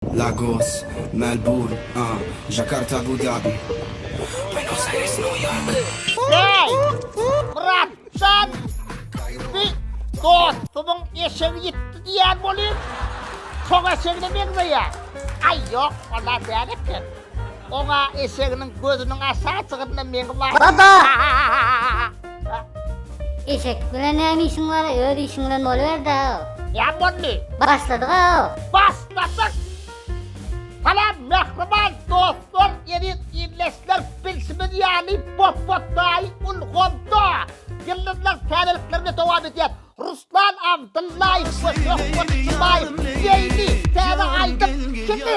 Lagos, Melburn, a, Jakarta, Abu Dabi, Buenos Aires, New York. Bäý! Myrat jan! Bi dostumyň eşegi ýitdi diýýän bolýyn. Şoň eşegine meňzeýä. Aý ýok, ola däl eken. Oňa eşeginiň gözüniň aşaçygynda meňi bar. Baba! Eşek bilen näme işiň bar, öz işiň bilen boluberdä-ow. Näme boldy? Başladyg-ow. Başladyk! Salam, mähriban dostlar, eziz ildeşler, bilşimiz ýaly, Botbot daýy ulgamda Ýyldyzlar täzelikler bilen dowam edýär. Ruslan Abdyllaýew we Söhbet Jumaýew beýni täze aýdym Kimi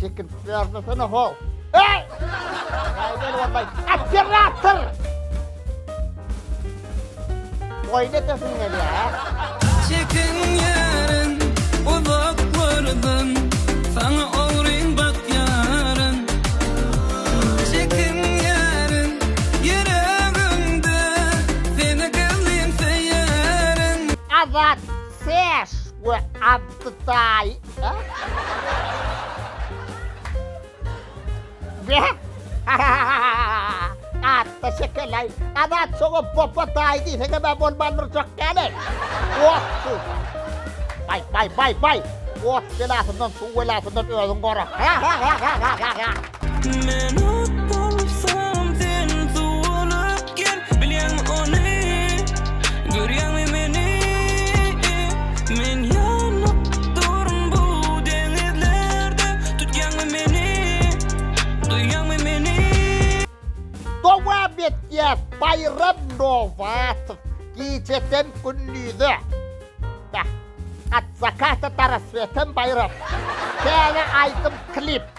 Çekirtip ýarlasana ho. Eý! Aýdar wallay, operator! Oýun etesin gelýär. Çekin ýaryn, uzaklardan, saňa ogryn bak ýaryn. Çekin ýaryn, ýüregimde, seni gyzym söýerin. Azat ses we Abdytaý Atda şekelaý, adat şoňa popa taý diýseňem-ä bolmanmyrjak ýaly. Otsyz. Baý, baý, baý, baý! Ot belasyndan, suw belasyndan özüňi gora. Men ot bolsam sen suw bolup gel Bilýäň ony görýäňmi meni Men ýanyp durun bu deňizlerde Tutýaňmy meni duýýaňmy meni. Dowam etýäs Baýram Nowatow Gijeden gündize Beh At zakata do rassweta Baýram Täze aýdym klip.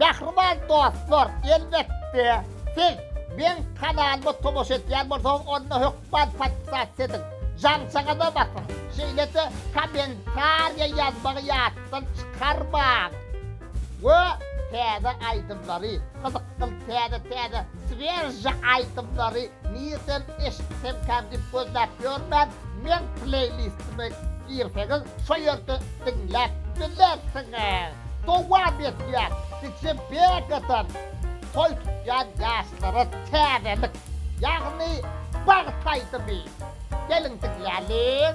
Mähriban dostlar, elbetde, siz meň kanalyma tomaşa edýän bolsaňyz, onda hökman podpisasiýa ediň, jaňçaňyza basyň, şeýle-de kommentariýa ýazmagy ýatdan çykarmaň we täze aýdymlary, gyzykly täze-täze Swiežja aýdymlary nirden eşitsemkäm diýip gözläp ýörmän, meň pleýlistime girseňiz şo ýerde diňläp bilersiňiz. Dowam etýär, Gije Begadan toý tutýan ýaşlara täzelik, ýagny bagt aýdymy. Geliň diňläliň.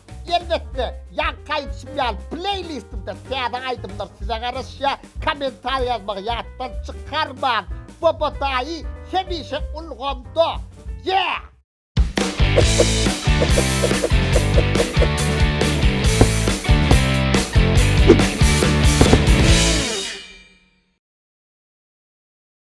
Elbetde, ýaňky aýdyşym ýaly, pleýlistimde täze aýdymlar size garaşýar, kommentariý ýazmagy ýatdan çykarmaň! Bobo daýy hemişe ulgamda! Yeah!